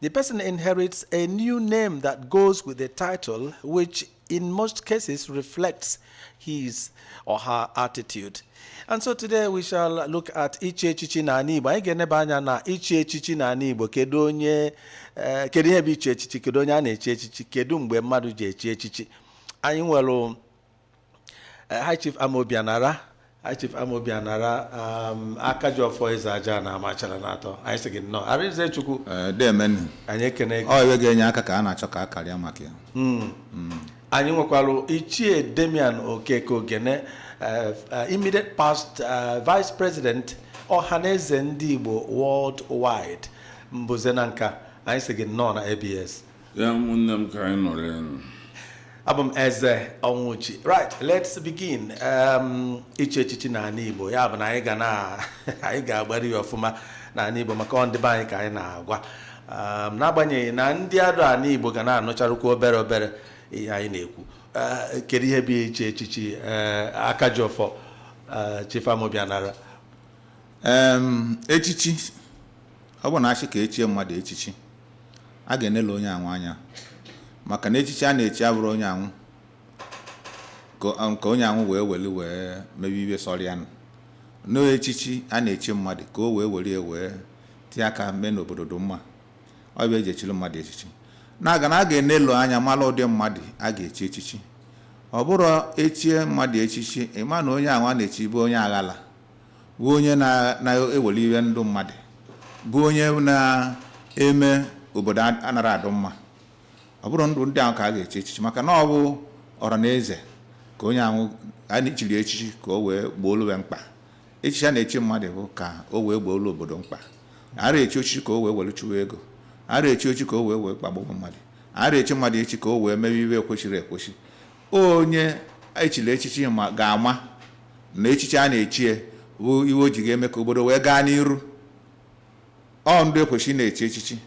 The person inherits a new name that goes with the title, which in most cases reflects his or her attitude. And so today we shall look at ichi echichi n'ani Igbo. Anyị ga-eneba anya na ichi echichi n'ani Igbo kedu onye eh, kedu ihe bụ ichi echichi kedu onye a na-echi echichi kedu mgbe mmadụ ji echi echichi anyị nwere High Chief Amobi Anara High Chief Amobi Anara um, aka ji ọfọ eze aja na amachara na atọ anyị sị gị nnọọ Arinze Chukwu Ee, deemenu anyị ekene gị ọ iwe ga-enye aka ka a na-achọ ka a karịa maka ya anyị nwekwara ichie Damian okeke ogene eh, eh, immediate past eh, vice president ọhaneze ndị igbo worldwide Mbuze Nanka anyị sị gị nnọọ na ABS ya ụmụnne m ka anyị nọrọ enu abụ m eze Onwuji right let's begin um, ichi echichi n'ani igbo ya bụ na anyị ga na anyị ga-agbari ya ọfụma n'ani igbo maka ọ ndị be anyị ka anyị na-agwa um, n'agbanyeghị na ndị adụ ani igbo ga na-anụcharụkwa obere obere ihe anyị na-ekwu uh, kedu ihe bụ ichi echichi uh, aka ji ọfọ uh, Chief Amobi Anara echichi Ọ bụ na a sị ka e chie mmadụ echichi, a ga-enelu onye awụ anya maka na echichi a na-echi abụrọ onye awụ ka onye awụ wee weli wee mebe iwe sọrọ ya nụ. Na ọ echichi a na-echi mmadụ ka o wee were ya wee tie aka mee na obodo dị mma. Ọ bụ e ji echili mmadụ echichi. Na-aga na a ga-enelu anya mara ụdị mmadụ a ga-echi echichi. Ọ bụrọ e chie mmadụ echichi, ị ma na onye awụ a na-echi bụ onye aghala. bụ onye na-eweli iwe ndụ mmadụ bụ onye na-eme obodo anara adụ mma ọ bụrọ ndụ ndị ahụ ka a ga-echi echichi maka na ọ bụ ọra na eze ka onye ahụ a na-echiri echichi ka o wee gboolu mkpa echichi a na-echi mmadụ bụ ka o wee gboolu obodo mkpa ara echi echichi ka o wee were chụwa ego ara echi echichi ka o wee wee kpagbuo mmadụ ara echi mmadụ echichi ka o wee mewe iwe ekwesịrọ ekwesị Onye e chiri echichi ga-ama na echichi a na-echi ya bụ iwe o ji ga-eme ka obodo wee gaa n'iru. Ọ ndụ e kwesị ịna-echi echichi.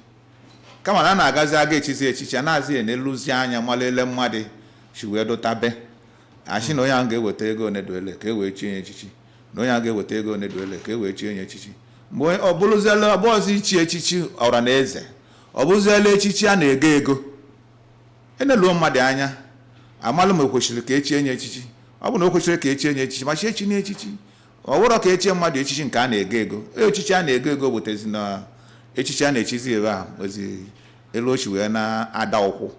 Kama na a na-agazi aga echizi echichi, anazi eneluzi anya mara ele mmadụ si wee dụtabe. A sị na onye ahụ ga-eweta ego one dị ole ka e wee chie ya echichi, na onye ahụ ga-eweta ego one dị ole ka e wee chie ya echichi. Mgbe ọ bụrụziela ọ bụghọzị ichi echichi ọra na eze, ọ bụrụziela echichi a na-ego ego. e neluo mmadụ anya a malụ ma e kwesịrị ka e chie nye echichi ọ bụ na o kwesịrị ka e chie nye echichi ma chi echi nye echichi ọ bụrọ ka e chie mmadụ echichi nke a na-ego ego echichi a na-ego ego butezi na echichi a na-echizi ebe a ozi elu ochi wee na-ada ụkwụ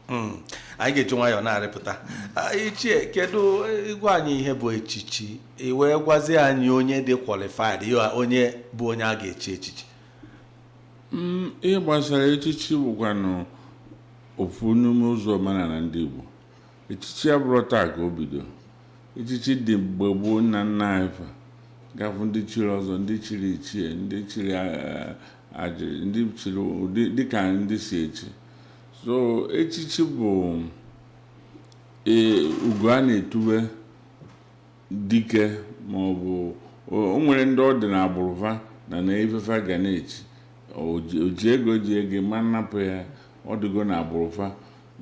Mm. anyị ga-eji nwayọọ na-arịpụta Ah, ichie kedu eh, gwa anyị ihe bụ echichi i wee gwazie anyị onye dị qualified onye bụ onye a ga-echi echichi ihe gbasara echichi bụkwanụ ofu n'ime ụzọ omenala ndị Igbo echichi abụrọ taa ka o bido echichi dị gboo gboo nna nna anyị fa ị ga-afụ ndị chiri ọzọ ndị chiri ichie ndị chiri ajiri ndị chiri ụdị dịka ndị si echi so echichi bụ ugo a na-etube dike ma ọ bụ o nwere ndị ọ dị na agbụrụ va na na ife fa ga na-echi o ji ego ji ego ma nnapụ ya ọ dịgo na agbụrụ fa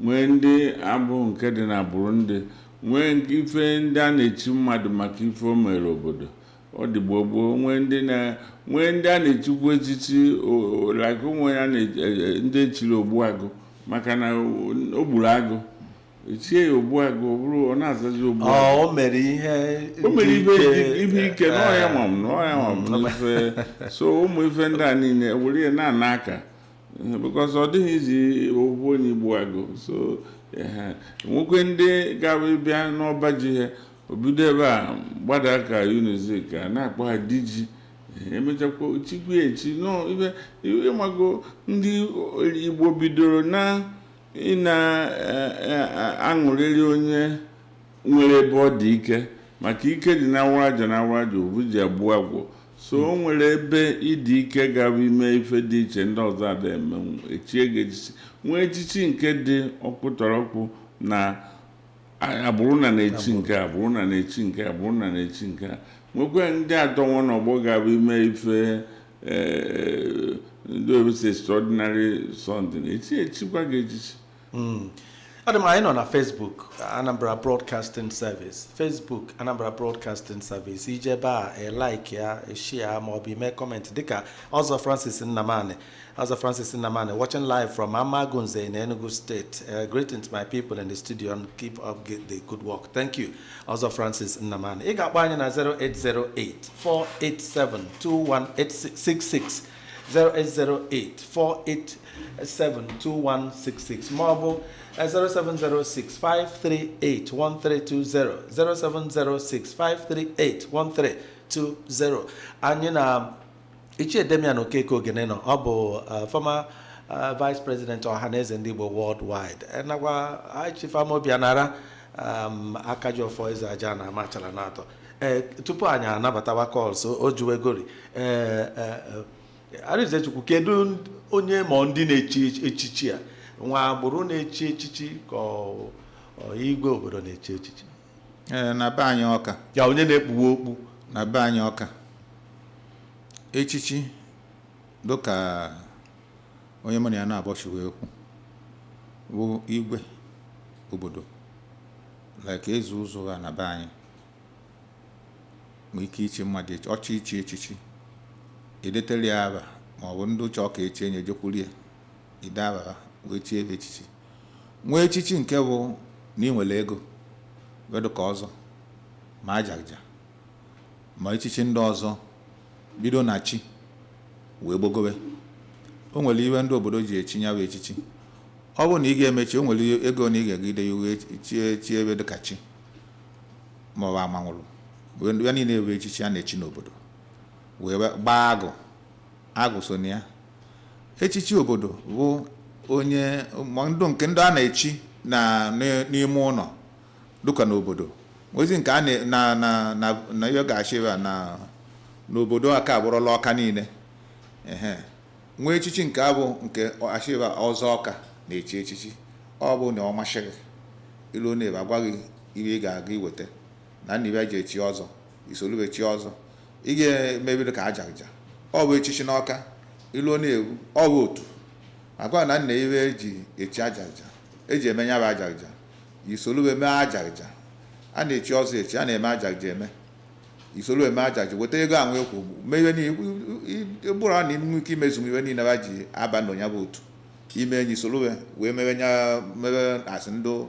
nwee ndị abụ nke dị na agbụrụ ndị nwee ife ndị a na-echi mmadụ maka ife o mere obodo ọ dị gboo gboo nwee ndị a na-echikwu echichi like o nwere e, e, ndị echiri ogbuagụ maka na o gburu agụ echie ya Ogbuagụ ọ bụrụ ọ na-azazi Ọ, Ogbuagụ o mere ihe o mere dị ife ike. ife ike na ọ ya nwa m na ọ ya nwa m n'ife so ụmụ ife ndị a niile were ya na-ana aka because ọ dịghị easy ofu onye igbu agụ so ehe. nwekwe ndị ga-abụ bịa n'ọba ji ha o bido ebe a gbada ka Unizik a na-akpọ ha diji emechakwa chikwu echi nọ ife ị mago ndị Igbo bidoro na ị na-aṅụrịrị onye nwere ebe ọ dị ike maka ike dị na awaraja na awaraja obu ji egbu agwọ so o nwere ebe ị dị ike ga-abụ i mee ife dị iche ndị ọzọ ada emenwu echie gị echichi nwee echichi nke dị ọkpụtọrọkpụ na agbụrụ na na-echi nke a bụrụ na na-echi nke a bụrụ na na-echi nke a nwekwa ndị adọnwụ n'ọgbọ ga-abụ i mee ife eh, ndị oyibo sị extraordinary something echi echikwa gị echichi hmm. ọ dị mma anyị nọ na Facebook Anambra Broadcasting Service Facebook Anambra Broadcasting Service i jee ebe a i like ya i share ma ọ bụ i mee comment dịka Ọzọ Francis Nnamani Ọzọ Francis Nnamani, watching live from Amagunze in Enugu State. Uh, greetings, my people in the studio, and keep up g- the good work. Thank you. Ọzọ Francis Nnamani. Ị ga-akpọ anyị na 0808-487-2166, 0808-487-2166, ma ọ bụ eh, 0706-538-1320, 0706-538-1320. Anyị na Ichie Damian Okeke Ogene nọ ọ bụ uh, former uh, vice president Ọhaneze ndị Igbo worldwide Eh, nakwa High Chief Amobi Anara um, Akajiọfọ Eze Aja na Amachala na atọ Eh, tupu anyị anabatawa calls o juwegori eh, eh, eh, Arinzechukwu kedu ndị- onye ma ndị na-echi echichi a nwa agbụrụ na-echi echichi ka ọ- ọ igwe obodo na-echi echichi ee na be anyị ọka ya onye na-ekpuwe okpu na be anyị ọka echichi dịka onye mụ na ya na-abọchiwe okwu bụ igwe obodo like eze ụzụ na be anyị nwee ike ichi mmadụ echichi echichi e detere ya aba ma ọ bụ ndị chọ ka e chie onye jekwuru ya ide aba ha wee chie ebe echichi nwee echichi nke bụ na ị nwere ego wee dịka ọzọ ma ajaghịja ma echichi ndị ọzọ bido na chi wee gbogowe o nwere iwe ndị obodo ji echi ya bụ echichi ọ bụrụ na ị ga-eme chi o nwere ego na ị ga-ejide ya wee chie chi ebe dịka chi ma ọ bụ amanwụlụ ya niile bụ echichi a na-echi n'obodo wee gbaa agụ agụ so na ya echichi obodo bụ onye ma ndụ nke ndị a na-echi na n- n'ime ụlọ dịka n'obodo nwezi nke a na- na na na na ihe ga-achị ebe a na n'obodo a ka abụrụla ọka niile ehe nwee echichi nke bụ nke e chiba ọzọ ọka na-echi echichi ọ bụ na ọ masị gị i lu na be a gwa gị ihe ị ga-aga iweta na nna ibe e ji echi ọzọ i solu be chie ọzọ ị ga-emebiri ka ajaghịja ọ bụ echichi n'ọka i lu ọ na-ewu ọ bụ otu a gwa na nna iwe eji echi ajaghịja eji eme ya bụ ajaghịja i solu be mee ajaghịja a na-echi ọzọ echi a na-eme ajaghịja eme i soro mee ajaghịja weta ego ahụ ekwu mee iwe niile bụrụ na i nwee ike imezu iwe niile ba ji aba na ya bụ otu ime enyi soro wee mewe asị ndị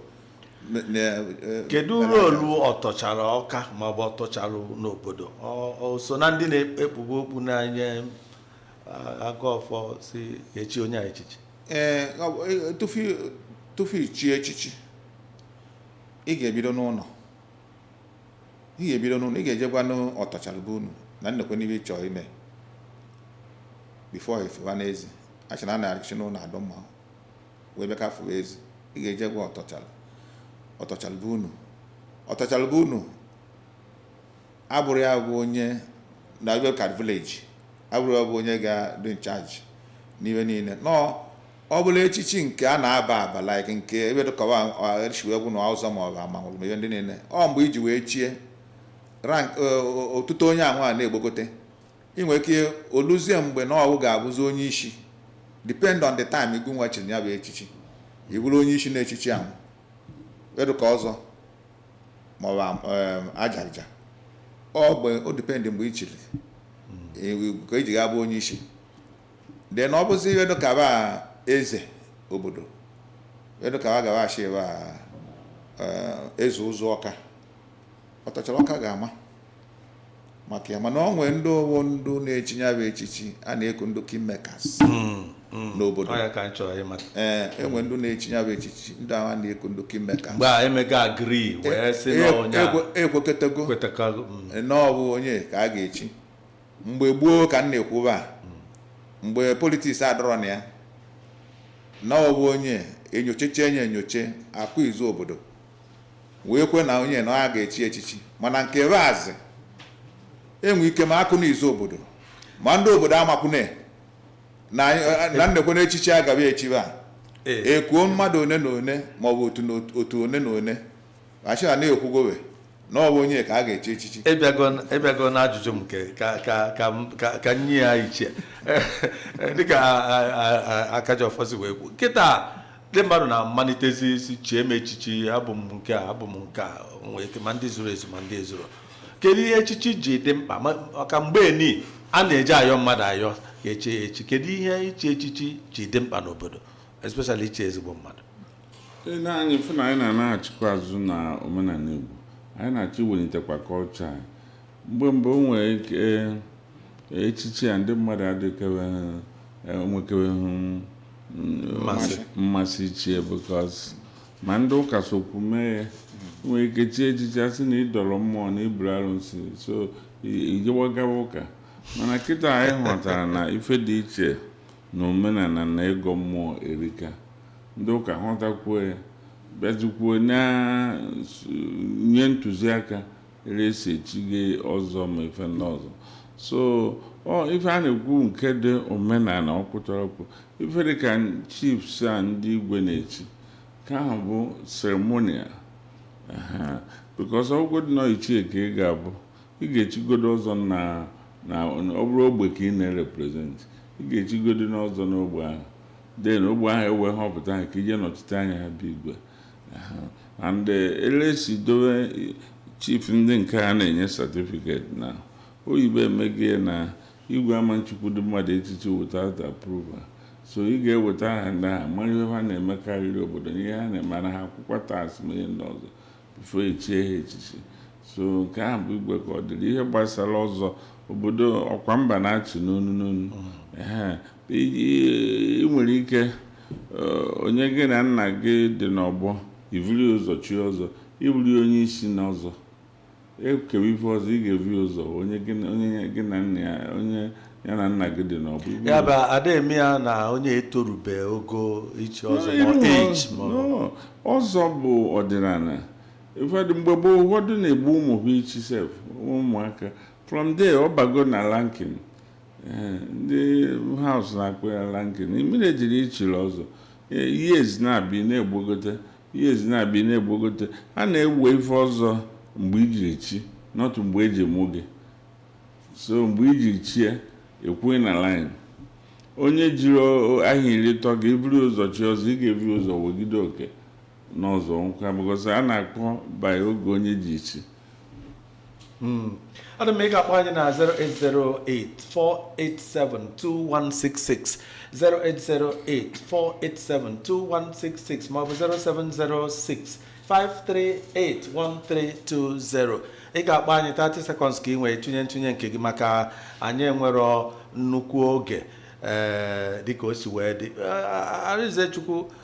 Me- me- eh, kedu role ọtọchara ọka maọbụ ọtọchara n'obodo Ọ- ọ so na ndị na-ekpube okpu na-enye ah, agọ ọfọ sị e chie onye a echichi ee ọ bụ- eh, tupu tupu ichi echichi ị ga-ebido n'ụlọ ị ga-ebido n'ụlọ ị ga-eje gwanụ ọtọchara be unu na nekwenụ ibe ị chọọ ime before ị fụba n'ezi a sị na a na-esi n'ụlọ adụ mma wee bịa ka fụba ezi ị ga-eje gwa ọtọchalụ ọtọchalụ be unu ọtọchalụ be unu abụrụ ya bụ onye na Abia Card Village abụrụ ya bụ onye ga-adị in charge n'ihe niile nọọ ọ bụla echichi nke a na-aba aba like nke ebe dịkọwa chiwegwu na ọzọ ma ọ bụ amanwụlụ ma ihe ndị niile ọ mgbe iji wee chie rank eh, o- o- otuto onye anwa na-egbogote I nwere ike o luzie mgbe na ọ wụ ga-abụzi onye isi depend on the time igunwa chiri ya bụ echichi i bụrụ onye isi n'echichi ahụ edụka ọzọ maọbụ um, ajaghịja ọ mgbe o depend mgbe i chiri hmm. ka iji e ga abụ onye isi then ọ bụzi ihe dịka ba eze obodo edụka ba gawa achị ba eh, Eze Ụzụ Ọka Ọtọchara Ọka ga-ama maka ya mana ọ nwee ndị ọ wụ ndụ na-echi ya bụ echichi a na-eku ndị kingmakers n'obodo ọ ya ka anyị chọrọ ịmata ee enwe ndị na-echi ya bụ echichi ndị ahụ a na-eku ndị kingmakers mgbe a emega agree wee sị na onye a ekwekọtago kwetakago mm, na ọ bụ onye ka a ga-echi mgbe gboo ka m na-ekwuba a, mgbe politiks adụrọ na ya na ọ bụ onye enyochecha enye enyoche akụ izu obodo wee kwe na onye na a ga-echi echichi mana nke Razi enwe ike ma akụ na izu obodo ma ndị obodo amakwune na anyị- na nekwe na echichi agaghị echibe a Ee. ekuo mmadụ one na one maọbụ otu na otu- otu one na one a sị na e kwugowe na ọ bụ onye ka a ga-echi echichi ị bịago ị bịago n'ajụjụ m nke ka ka ka m- ka ka nye ya iche dịka a- a- a- Akajiọfọ si wee kwu kịta ndị mmadụ na-amalitezi isi chie m echichi abụ m nke a abụ m nke a o nwere ike ma ndị zuru ezu ma ndị ezuro kedu ihe echichi ji dị mkpa Ma- maka mgbe ni a na-eji ayọ mmadụ ayọ ya eche ya echi kedu ihe ichi echichi ji dị mkpa n'obodo especially ichi ezigbo mmadụ Ị na anyị fụ na anyị na-anaghachikwa azụ na omenala Igbo anyị na-achọ iwelitekwa culture anyị mgbe mgbe o nwere ike echichi a ndị mmadụ adịkeweghị enwekeweghị Mmasị. mmasị ichi ya because ma ndị ụka sokwu mee ya nwere ike chi echichi a sị na ị dọrọ mmụọ na i buru arụsị so i- ijewa gawa ụka mana kịta anyị hụtara na ife dị iche na omenala na ịgọ mmụọ erika ndị ụka hụtakwuo ya bịazikwuo na-enye ntụziaka ere e si echighe ọzọ ma ife ndị ọzọ so ọ ife a na-ekwu nke dị omenala ọkpụtọrọkpụ ife dị ka chiefs a ndị igwe na-echi ka ahụ bụ ceremonial because ọ wụgodu na ọ ichie ka ị ga-abụ ị ga-echigodo ọzọ na na ọ bụrụ ogbe ka ị na-erepresent ị ga-echigodo n'ọzọ n'ogbe ahụ then ogbe ahụ ewee họpụta ha ka i je nọchite anya ha be igwe and eh, ele e si dowe eh, chief ndị nke a na-enye certificate na oyibo emegie na igwe ama nchikwudu mmadụ echichi without approval so ị ga-eweta aha ndị ahụ mara ihe ha na-emekarịrị obodo na ihe ha na-emara ha akwụkwọ tax ma ihe ndị ọzọ before e chie ha echichi so nke ahụ bụ igwe ka ọ dịrị ihe gbasara ọzọ obodo ọkwa mba na-achị n'onu n'onu ị nwere ike eh, onye gị na nna gị dị n'ọgbọ i vuru ụzọ chie ọzọ ị bụrụ onye isi n'ọzọ ekewa ife ọzọ ị ga-evi ụzọ onye gị na nna ya onye ya na nna gị dị n'ọgbọ ya bụ ada eme ya na onye etorube ogo ichi ọzọ ọzọ bụ ọdịnala ụfọdụ mgbe gboo ụfọdụ na-egbu ụmụ ha ichi sef ụmụaka from there ọ bago na ranking eh, ndị haus na-akpọ ya ranking mmiri ejiri ichiri ọzọ eh, years na-abịa na-egbogote years na-abịa na-egbogote a na-ewe ife ọzọ mgbe ijiri chi not mgbe eji mụ gị so mgbe iji chie akwụ na line onye jiri ahọ iri tọ gị i buru ụzọ chi ọzọ ị ga-eburu ụzọ wegide oke n'ọzọ nkwa because a na-akpọ by oge onye ji chi hmm. ọ dị mma ị ga-akpọ anyị na 08084872166 08084872166 maọbụ 07065381320 ị ga-akpọ anyị 30 seconds ka ị wee tụnye ntụnye nke gị maka anyị enwero nnukwu oge ee eh, dịka o si wee dị eh, Arinzechukwu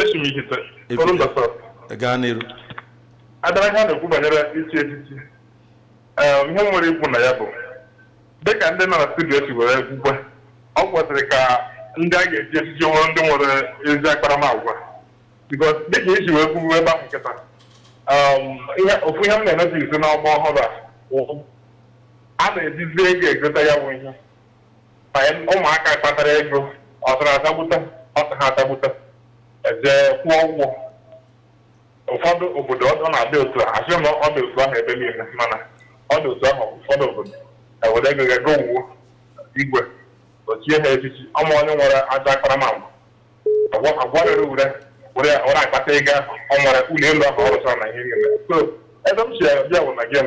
Esi m Ihite, Ifite. Orumba South. gaa n'iru abịara ihe a na-ekwu banyere ichi echichi ee ihe m nwere ikwu na ya bụ dịka ndị nọ na studio si were kwukwe ọ kwesịrị ka ndị a ga-echi echichi wụrụ ndị nwere ezi akparamagwa because dịka e si wee kwuwe ebe ahụ kịta um, ihe ofu ihe m na-enetazi n'ọgbọ ọhụrụ a wụ, a na-ejizi ego egote ya bụ ihe ụmụaka kpatara ego ọsara asagbute ọsọ ha asagbute jee kwụọ ụgwọ ụfọdụ obodo ọ na-adị otu a asị na ọ dị otu ahụ ebe niile mana ọ dị otu ahụ ụfọdụ obodo ewere ego ego wuo igwe o chie ha echichi ọma onye nwere ajọ akparamagwa agwarịrị ure were akpata ego ahụ ọ nwere ụlọ elu ahụ ọ rụchara na ihe niile so ebe m si abịa bụ na gem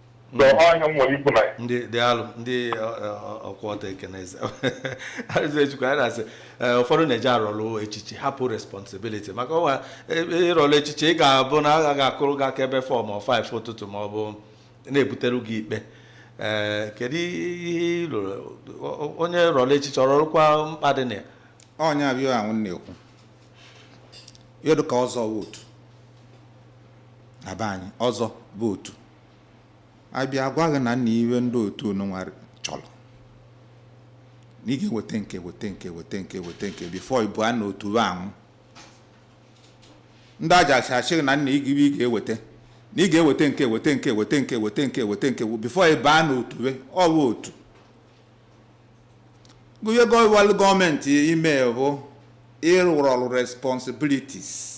so ọ ihe m nwere ikwu na ya daalụ ndị ọkwa ọta ekeneze Arinzechukwu anyị na-asị eh, ụfọdụ na-eje arọlụ echichi hapụ responsibility maka ọnwa ịrọlụ echichi ị ga-abụ na a ga-akụrụ gị aka ebe 4 ma ọ 5 ụtụtụ ma ọ bụ na-ebutere gị ikpe ee kedu ihe ị lụrụ O- o- onye rọlụ echichi ọ rọrụkwa mkpa dị na ya ọ ya bụ ihe m na-ekwu ihe dịka ọzọ wụ otu na be anyị ọzọ bụ otu a bịa gwa gị na nna ive ndị otu nụnwa chọrọ na ị ga-eweta nke weta nke weta nke weta nke bifo ị baa na otu ahụ ndị ajaghija asị na nna igibe ị ga-eweta na ị ga-eweta nke weta nke weta nke weta nke weta nke bifo ị baa na otu ọ bụ otu ihe gọwalụ gọọmenti ime bụ ịrụrụ ọrụ responsibilities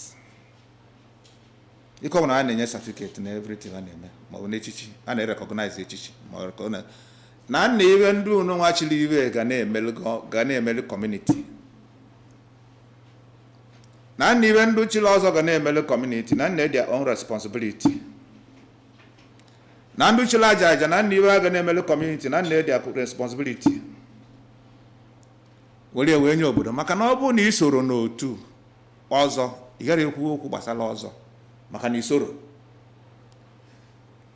ike ọbụla a na-enye certificate na everything a na-eme maọbụ n'echichi a na-erekọgnaiz echichi ma ọ rekọ- na- na nna ive ndị nụnwa chiri ive ga na-emelu gọ- ga na-emelu kọmuniti na nna ive ndị chiri ọzọ ga na-emelu kọmuniti na nna their own responsibility na ndị chiri ajaghija na nna ive a ga na-emelu kọmuniti na nna their own responsibility were wee nye obodo maka na ọ bụrụ na ị soro n'otu ọzọ ị gara ekwu okwu gbasara ọzọ maka na ị soro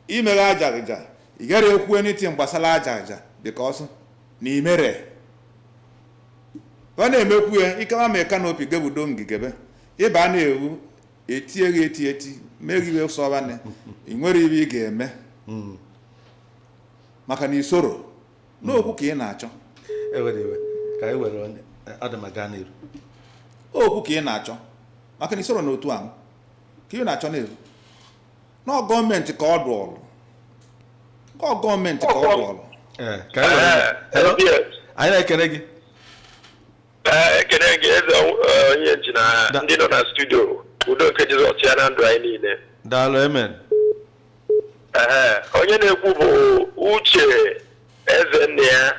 mee ajaghija ị gara ekwu anything gbasara ajaghija because na imere ọ na-emekwu ya ikewa ma kanopi gebudo ngigebe ịba na-ewu etie gị eti eti mee gị ive sọbanị ị nwerọ ive ị ga-eme maka na isoro n'okwu ka ị na-achọ ewere iwe ka anyị were onye ọ dị mma gaa n'iru okwu ka ị na-achọ maka na isoro n'otu ahụ ka ị na-achọ na-eru na ọ gọọmenti ka ọ dụụrụ ka ọ gọọmenti ka ọ dụụrụ Ee, ka anyị were onye. Hello? Yes. anyị na-ekele gị Ee, ekene gị eze eh, onye nji na Da- ndị nọ na studio udo nke jizọs chịa na ndụ anyị niile daalụ amen Ehe, onye na-ekwu bụ uche ezennia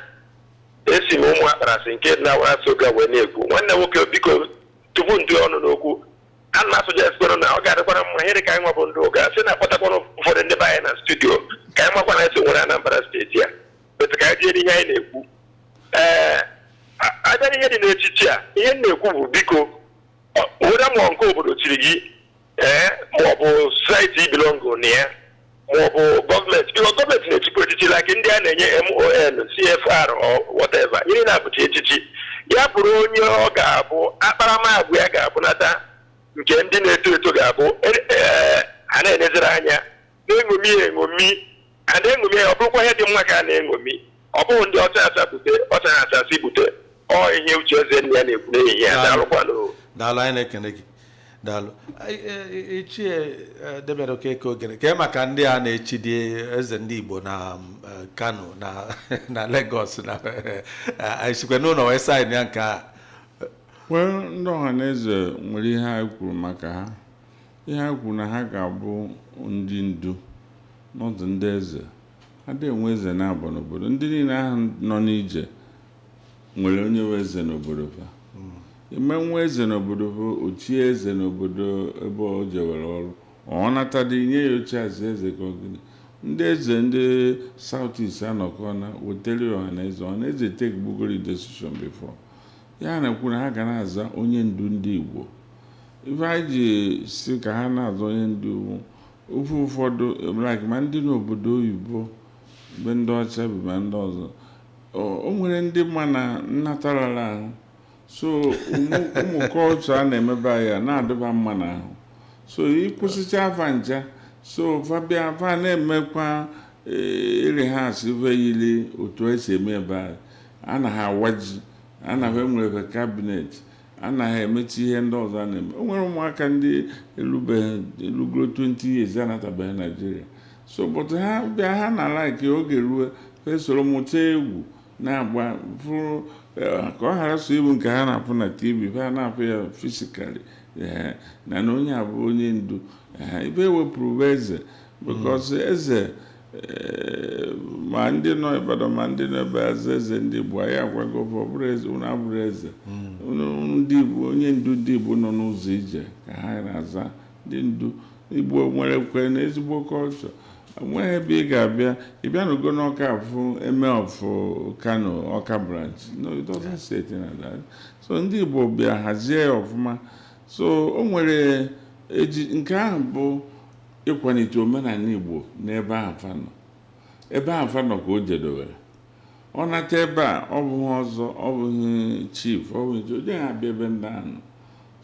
esi m ụmụakparasị nke dị n'awarasi uga wee na-ekwu nwanne nwoke biko tupu m tinye ọnụ n'okwu a ana m asọjestikwanụ na ọ ga-adịkwara mma ihe dị ka anyị nwa bụ ndị uga sị na-akpọtakwanụ ụfọdụ ndị be anyị na studio ka anyị makwa na e so nwere anambra steeti a otu ka anyị ihe anyị na-ekwu ee a bịa n'ihe dị n'echichi a ihe m na-ekwu bụ biko whether ma ọ nke obodo chiri gị ee maọbụ society ị bilongo na ya maọbụ gọọmenti biko gọọmenti na-echikwa echichi like ndị a na-enye MON CFR or whatever ihe na-abụ e chie echichi ya bụrụ onye ọ ga-abụ akparamagwa ya ga-abụnata nke ndị na-eto eto ga-abụ a na-enezere anya na-eṅomi ya eṅomi a na-eṅomi ya ọ bụrụkwa ihe dị mma ka a na-eṅomi ọ bụghị ndị ọcha acha bute ọcha ha acha si bute ọ ihe uche eze nne ya na-ekwu n'ehihie a daalụkwanụ daalụ anyị na-ekene gị daalụ Anyị, eh, ichie eh, Damian Okeke Ogene kee maka ndị a na-echi dị eze ndị Igbo na um, eh, Kano na na Lagos na eh, anyị sikwa n'ụlọ wee saịn ya nke a wee ndị Ọhaneze nwere ihe ha kwuru maka ha Ihe ha kwuru na ha ga-abụ ndị ndu n'ọdụ ndị eze. A dị enwe eze naabọ n'obodo. Ndị niile ahụ nọ n'ije nwere onye bụ eze n'obodo ha. A ma enwe eze n'obodo ha, o chie eze n'obodo ebe o jewere ọrụ, ọ natadị nye ya oche azụ eze ka ọ gịnị. Ndị eze ndị South East anọkọ na wetara ya Ọhaneze. Ọhaneze take bugori decision before. Ihe a na-ekwu na ha ga na-aza onye ndu ndị Igbo. Ife anyị ji si ka ha na-aza onye ndu ofe ụfọdụ like ma ndị n'obodo oyibo be ndị ọcha bi ma ndị ọzọ o nwere ndị ma na nnata rara ahụ so ụmụ culture a na-eme be anyị a na-adị fa mma n'ahụ so ị kwụsịcha fa ncha so fa bịa fa na-emekwa rehearse ife yiri otu e si eme ebe a anaghị awa ji anaghị enwere cabinet a naghị emecha ihe ndị ọzọ a na-eme o nwere ụmụaka ndị elubeghị elugoro 20 years anatabeghị Nigeria so but ha bịa ha na like oge ruo ha esoro mụta egwu na-agba fụrụ eh, ka ọ ghara sọ ịbụ nke ha na-afụ na TV ha na-afụ ya physically ee na na onye a bụ onye ndu ee ife e wepụrụ bụ eze because eze ma ndị nọ Ibadan ma ndị nọ ebe aza eze ndị Igbo anyị agwago ọ bụrọ eze unu abụrọ eze hmm. ndị Igbo onye ndu ndị Igbo nọ n'ụzọ ije ka ha na-aza ndị ndu Igbo nwerekwanụ ezigbo culture e nweghị ebe ị ga-abịa ị bịanugo n'Ọka afụ Emir of Kano Ọka branch no it doesn't say anything like that so ndị Igbo bịa hazie ya ọfụma so o nwere nke ahụ bụ ịkwalite omenala Igbo n'ebe ahụ fa nọ ebe ahụ fa nọ ka o jedebere ọ nata ebe a ọ bụghị ọzọ ọ bụghị chief ọ bụghị nke onye ha abịa ebe ndị ahụ nọ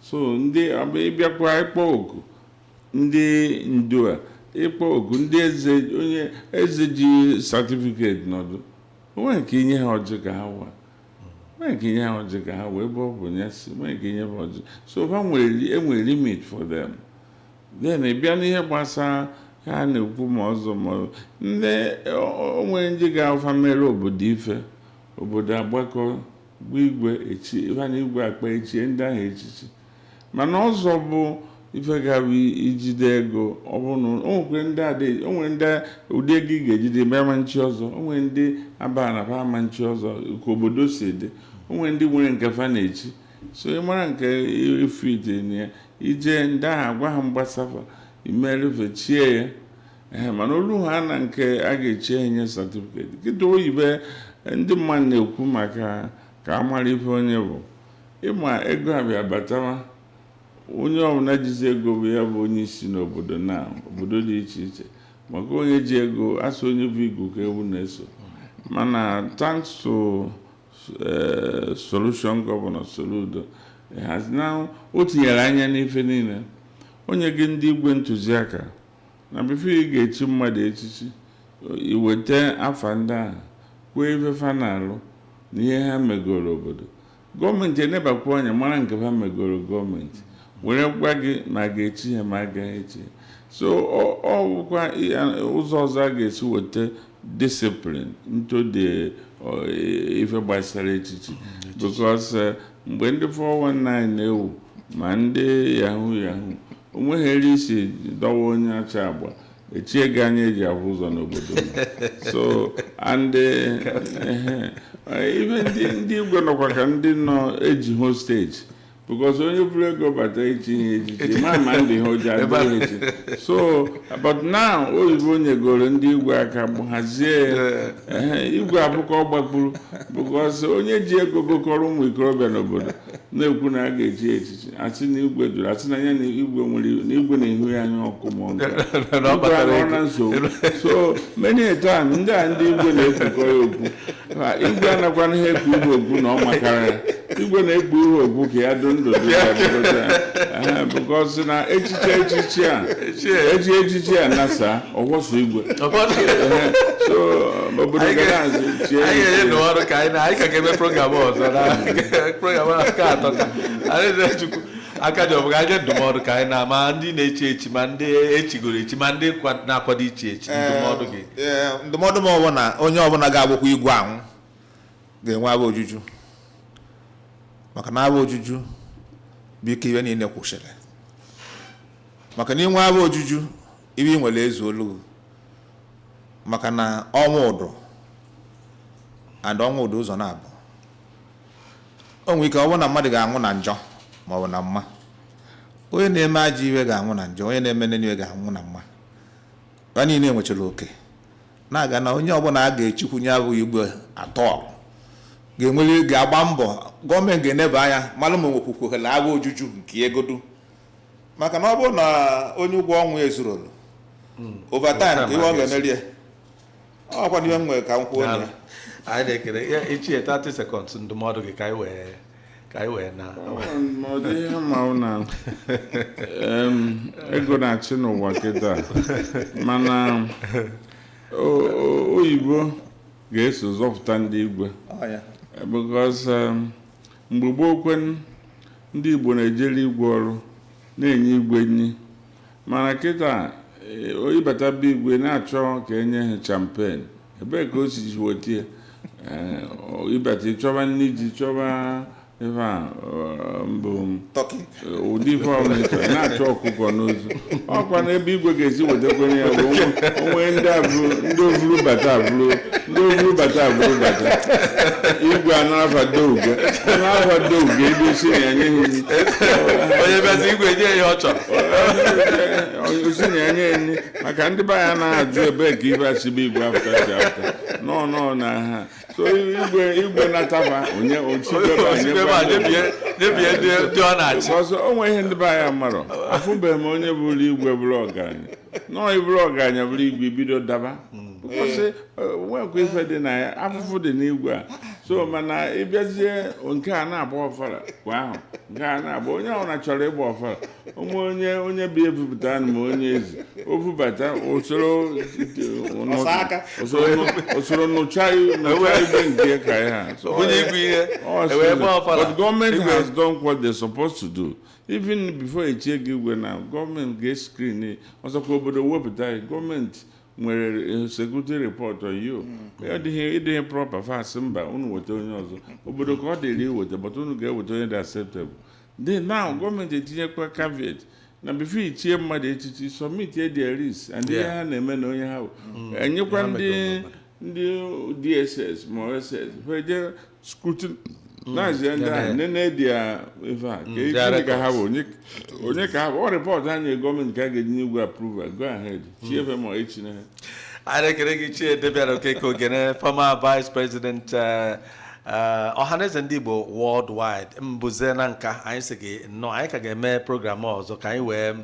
so ndị ọ bụ ị bịakwa ịkpọ oku ndị ndu a ịkpọ oku ndị eze onye eze ji certificate nọdụ o nweghị ike inye ha ọjị ka ha wa o nweghị ike inye ha ọjị ka ha wa ebe ọ bụ ya si o nweghị ike inye ha ọjị so ha nwere e nwere limit for them then ị bịa n'ihe gbasara ha a na-ekwu ma ọzọ ma ọ- ndị o- o nwere ndị ga-afụ meere obodo ife obodo agbakọ gwa igwe echi ife na igwe akpa echie ndị ahụ echichi mana ọzọ bụ ife ga-abụ ijide ego ọ bụrụ na o nwere ndị adị o nwere ndị ụdị ego ị ga-ejide bama n'ichi ọzọ o nwere ndị aba na ba ama nchi ọzọ ka obodo si dị o nwere ndị nwere nke fa na-echi so ị mara nke ifite na ya ije ndị ahụ agwa ha mgbasafa imerụfe chie ya ee mana olu ha na nke a ga-echi enye certificate kịta oyibe ndị mmadụ na-ekwu maka ka a mara ife onye bụ ị ma ego abịa batawa onye ọbụla jizi ego bụ ya bụ onye isi n'obodo na obodo dị iche iche maka onye ji ego asị onye bu igu ka ewu na-eso mana thanks to eh, solution Governor Soludo has now o tinyere anya n'ife niile o nyego ndị igwe ntụziaka na before ị ga-echi mmadụ echichi i weta afa ndị ahụ kwuo ife fa na-alụ na ihe ha megoro obodo gọọmenti enebakwa anya mara nke fa megoro gọọmenti were gwa gị ma a ga-echi ya ma a gaghị echi ya so ọ ọ bụkwa ya- ụzọ ọzọ a ga-esi weta discipline into the uh, ife gbasara echichi mm, because uh, mgbe ndị 419 na-ewu ma ndị yahoo yahoo o nweghịrị isi dọwa onye ọcha agba echie gị anya eji ahụ ụzọ n'obodo so and uh, ife ndị igwe nọkwa ka ndị nọ eji hostage because onye buru ego bata ichi ihe echichi ma ma ndị ha oji adịghị echi so but now oyibo nyegoro ndị igwe aka bụ hazie igwe abụkọ gbagburu because onye ji ego gokọrọ ụmụ ikorobịa n'obodo na-ekwu na a ga-echi ya echichi asị na igwe jụrụ asị na ya na igwe nwere na igwe na-ehu ya anya ọkụ ma ọ na nsogbu so many a time ndị a ndị igwe na-ekwukọ ya okwu Ma igwe anakwana ihe ekpu ihe ogwu na ọ makara ya igwe na-ekpu ihe ogwu ka ya dị ndụ dị ya bụgote ya. Ehe, because na echiche echichi a eji echichi a nasa ọgwọsọ igwe Ehe, so obodo gaa n'azụ chie ya anyị ga-enye iche. n'ụwa ọrụ ka anyị na anyị ka ga-eme program ọzọ na program ahụ aka atọ ka anyị na-echukwu aka ji ọbụga anyị ndụmọdụ ka anyị na ma ndị na-echi echi ma ndị echigoro echi ma ndị kwa- na-akwado ichi echi ndụmọdụ gị ee ndụmọdụ mụ bụ na onye ọbụla ga-abụkwa igwe ahụ ga-enwe afọ ojuju maka na afọ ojuju bụ nke ihe niile kwụsịrị maka na i nwee afọ ojuju ihe i nwere ezuolu maka na ọnwụ dụ and ọnwụ dụ ụzọ naabọ o nwere ike ọ bụrụ na mmadụ ga-anwụ na njọ ma ọ bụ na mma onye na-eme ajọ ihe ga-anwụ na njọ onye na-eme nene ihe ga-anwụ na mma Ha niile nwechara oke na-aga na onye ọbụla a ga-echikwu nya bụ igwe atọ ga-enwere ga-agba mbọ gọọmenti ga-eneba anya mara ma nwekwukwuhela afọ ojuju nke ego du maka na ọ bụrụ na onye ụgwọ ọnwa ezurolu overtime ka ihe ọ ga-emeri ya ọ kwa ihe m nwere ka m kwuo na ya anyị na-ekele ya ichie 30 seconds ndụmọdụ gị ka anyị wee ka anyị wee na ma ọ dị ihe ma ọ na em, ego na-achị n'ụwa kịta mana o- o- oyibo ga-eso zọpụta ndị igwe Ọ ya. because um, mgbe gboo kwanụ ndị Igbo na-ejere igwe ọrụ na-enye igwe nri mana kịta ịbata be igwe na-achọ ka e nye ha champagne ebee ka o si ji weta ya ịbata ịchọba nri ji chọba ife a mbụ ụdị ife ọbụla ịchọ na-achọ ọkụkọ n'ozu ọkwa na ebe igwe ga-esi wetakwenye ya bụ onwe ndị ovuru bata abụrụ ndị ovuru bata abụrụ bata igwe a na-afado uge na-afado uge ebe isi na-enye ha onye bịazi igwe nye ya ọ chọrọ o si na-enye nri maka ndị be anyị na-ajụ ebe ka ife si be igwe afụta si afụta nọ nọ na ha so igwe igwe nataba onye ochibebe anyị Osikebe a debie debie ndị ndị ọ na-achị ọzọ o nwe ihe ndị be anyị marọ afụbeghị m onye bụrụ igwe bụrụ ọgaranya no ị bụrụ ọgaranya bụrụ igwe bido daba Because nwekwa ife dị na ya afụfụ dị n'igwe a so mana ịbịazie nke a na-agba ọfala kwa afọ nke a na-agba onye ọbụla chọrọ ịgba ọfala onwe onye onye bụ ebupụta na ma onye ezi o bubata usoro usoro nụcha ibe nke ka ya but government has done what they're supposed to do even before e chie gị igwe na gọọmenti ga-eskrin ọzọkwa obodo wepụta gọọmenti nwere security report on you ya dịghị ịdịghị proper fa asị mba unu weta onye ọzọ obodo ka ọ dịrị iweta but unu ga-eweta onye dị acceptable then now gọọmenti etinyekwa caveat na before i chie mmadụ echichi submit ya their risk and ihe Yeah. ha na-eme na onye ha bụ enyekwa Ya ndị mejọrọ ndị DSS ma SS ha eje scrutinize ndị ahụ nene dị ya ife a ka Mm, their ike ka ha bụ onye onye ka ha bụ ọ report ha nye gọọmenti ka a ga-eji nye igwe approval go ahead chie efe ma echi na ha anyị ekele gị Ichie Damian okeke ogene former vice president eh, eh, ọhaneze ndị igbo worldwide Mbuze Nanka anyị sị gị nnọọ anyị ka ga-eme program ọzọ ka anyị wee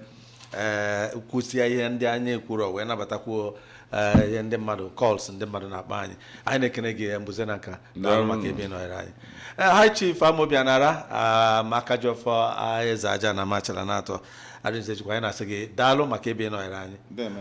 ee kwusịa ihe ndị anyị kwuru wee nabatakwuo ee, ihe ndị mmadụ calls ndị mmadụ na-akpọ anyị anyị na-ekene gị Mbuze Nanka daalụ maka ebe ị nọnyere anyị Ee, High Chief amobianara ah, maka jọfọ ah, eze aja na Amachala na atọ adịnze jikwa anyị na-asị gị daalụ maka ebe ị nọnyere anyị Deeme.